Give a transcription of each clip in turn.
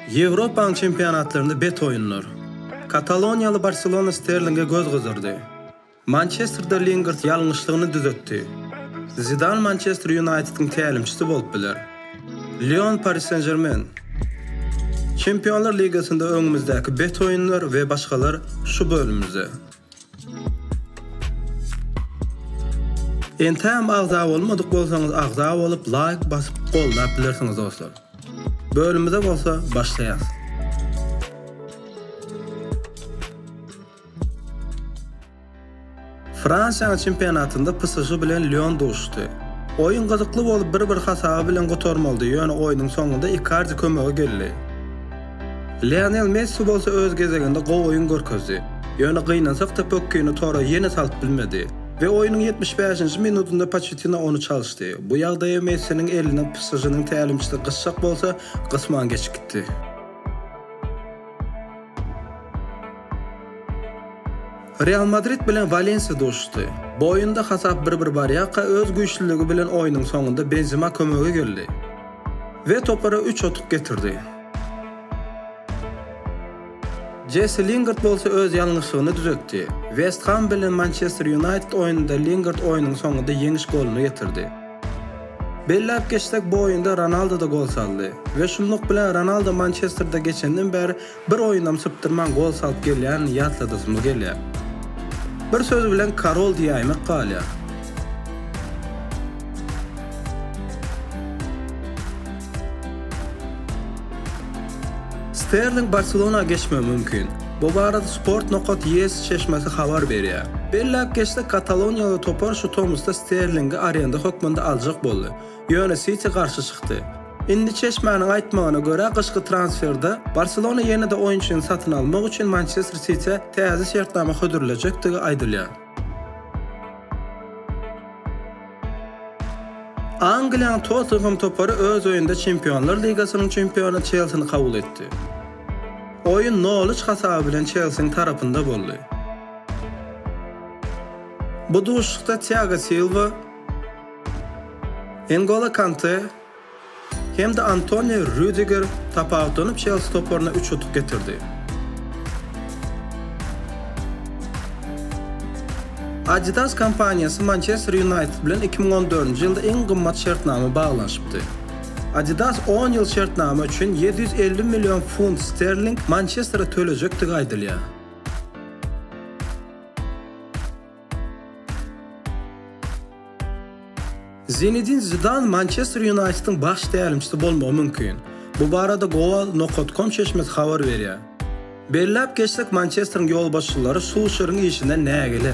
Ýewropanyň çempionatlarynda bet oýunlar. Kataloniýaly Barselona Sterlinge göz gyzdyrdy. Mançesterde Lingard ýalňyşlygyny düzetdi. Zidan Mançester Ýunaýtediň tälimçisi bolup biler. Lion Pari Sen-Žermen. Çempionlar ligasynda öňümizdäki bet oýunlar we başgalar şu bölümimizde. Entägem agza bolmadyk bolsaňyz agza bolup laýk basyp goldap bilersiňiz dostlar. Bölümize bolsa başlaýas. Fransiýanyň çempionatynda PSŽ bilen Lýon duşdy. Oýun gyzykly bolup bir-bir hasaby bilen gutarmalydy ýöne oýnuň soňunda Ikardi kömege geldi. Lionel Messi bolsa öz gezeginde gowy oýun görkezdi. Ýöne gynansak-da pökgini tora ýene salyp bilmedi we oýnuň ýetmiş bäşinji minudynda Poçettino ony çalyşdy. Bu ýagdaýa Messiniň eline PSŽ-niň tälimçisi gysjak bolsa, gysman geçikdi. Real Madrid bilen Walensiýa duşuşdy. Bu oýunda hasap bir-bir barýarka öz güýçlüligi bilen oýnuň soňunda Benzema kömege geldi. We topara üç otuk getirdi. Jessi Lingard bolsa öz ýalňyşlygyny düzetdi. West Ham bilen Mançester Ýunaýted oýnunda Lingard oýnuň soňunda ýeňiş goluny getirdi. Belläp geçsek, bu oýunda Ronaldo-da gol saldy. We şunluk bilen Ronaldo Mançesterde geçenden bäri Bir oýunam sypdyrman gol salyp gelýänini ýatladasymyz gelýär. Bir söz bilen Karol diýäýmek galýar. Sterling Barselona geçmegi mümkin. Bu barada Sport nokat ES çeşmesi habar berýär. Belläp geçsek, kataloniýaly topar şu tomusda Sterlingi arenda hökmünde aljak boldy. Ýöne Siti garşy çykdy. Indi çeşmäniň aýtmagyna görä, gyşky transferde Barselona ýene-de oýunçyny satyn almak üçin Mançester Sitiä täze şertnama hödürlejekdigi aýdylýar. Angliýanyň Tottenhem topary öz öýünde Çempionlar ligasynyň çempiony Çelsini kabul etdi. Oýun nol üç hasaby bilen Çelsiniň tarapynda boldy. Bu duşuşykda Tiago Silwa, N'Golo Kante hem-de Antonio Rüdiger tapawutlanyp Çelsi toparyna üç utuk getirdi. Adidas kompaniýasy Mançester Ýunaýted bilen iki müň on dördünji ýylda iň gymmat şertnama baglanyşypdy. Adidas on ýyl şertnama üçin ýedi ýüz elli million funt sterling Mançestere tölejekdigi aýdylýar. Zinedin Zidan Mançester Ýunaýtediň baş tälimçisi bolmagy mümkin. Bu barada goal.com çeşmesi habar berýär. Belläp geçsek, Mançesteriň ýolbaşçylary Sulşeriň işinden nägile.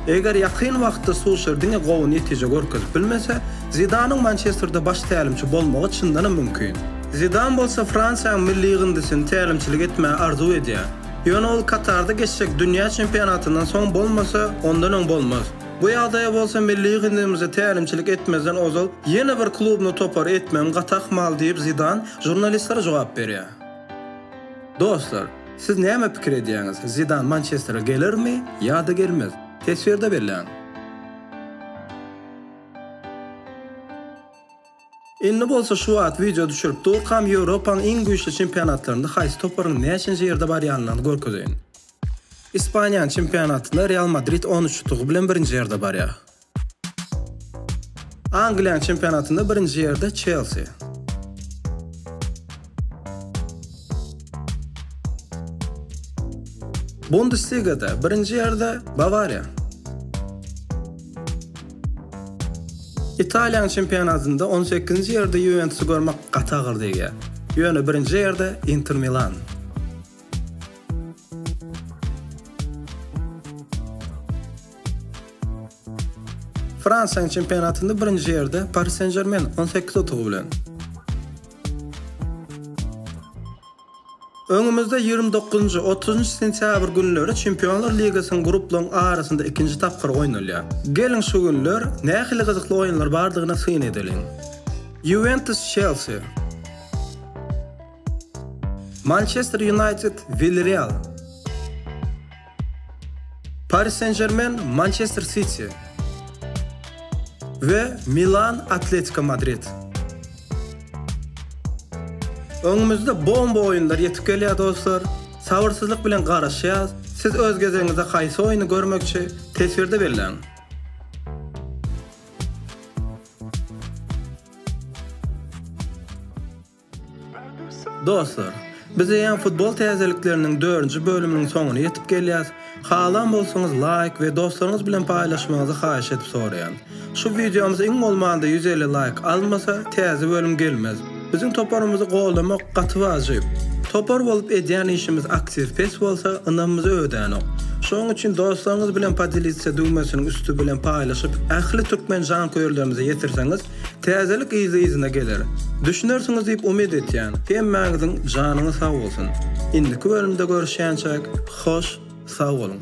Eger ýakyn wagtda Sulşer diňe gowy netije görkezip bilmese, Zidanyň Mançesterde baş tälimçi bolmagy çyndanam mümkin. Zidan bolsa Fransiýanyň milli ýygyndysyny tälimçilik etmäge arzuw edýär. Ýöne ol Katarda geçjek dünýä çempionatyndan soň bolmasa, ondan öň bolmaz. Bu ýagdaýa bolsa milli ýygyndymyza tälimçilik etmezden ozal ýene bir klubna topar etmegiň gaty ahmal diýip Zidan žurnalistlere jogap berýär. Dostlar, siz näme pikir edýäňiz, Zidan Mançestere gelermi ýa-da gelmez? Teswirde belläň! Indi bolsa şu wagt wideo düşürip durkam Ýewropaň iň güýçli çempionatlarynda haýsy toparyň näçenji ýerde barýanyny görkezeýin. Ispaniýanyň çempionatynda Real Madrid on üç utugy bilen birinji ýerde barýar. Angliýanyň çempionatynda birinji ýerde Çelsi. Bundesligada birinji ýerde Bawariýa. Italiýanyň çempionatynda on sekizinji ýerde Ýuwentusy görmek gaty agyr degýär. Ýöne birinji ýerde Inter Milan. Fransiýanyň çempionatynda birinji ýerde Pari Sen-Žermen on sekiz utugy bilen. Öňümizde ýigrimi dokuzynjy, otuzynjy sentýabr günleri Çempionlar ligasynyň gruplaryň arasynda ikinji tapgyry oýnalýar. Geliň şu günler nähili gyzykly oýunlar bardygyna syn edeliň. Ýuwentus, Çelsi. Mançester Ýunaýted, Wilreal. Paris Sen-Žermen, Mançester Siti we Milan, Atletiko Madrid. Öňümizde bomba oýunlar ýetip gelýär dostlar, sabyrsyzlyk bilen garaşýas, siz öz gezegiňizde haýsy oýny görmekçi, teswirde belläň. Dostlar, biz eýýäm futbol täzelikleriniň dördünji bölüminiň soňuna ýetip gelýäs. Halan bolsaňyz laýk we dostlaryňyz bilen paýlaşmagyňyzy haýyş edip soraýan. Şu wideomyz iň bolmanda ýüz elli laýk almasa, täze bölüm gelmez. Biziň toparymyzy goldamak gaty wajyp. Topar bolup edýän işimiz aktiw pes bolsa, ynamymyz ödänok. Şonuň üçin dostlaryňyz bilen podelitsa düwmesiniň üsti bilen paýlaşyp, ähli türkmen janköýerlerimize ýetirseňiz, Täzelik yzly-yzyna geler. Düşünersiňiz diýip umyt etýän. Hemmäňiziň janyňyz sag bolsun. Indiki bölümde görüşýänçäk hoş sag boluň.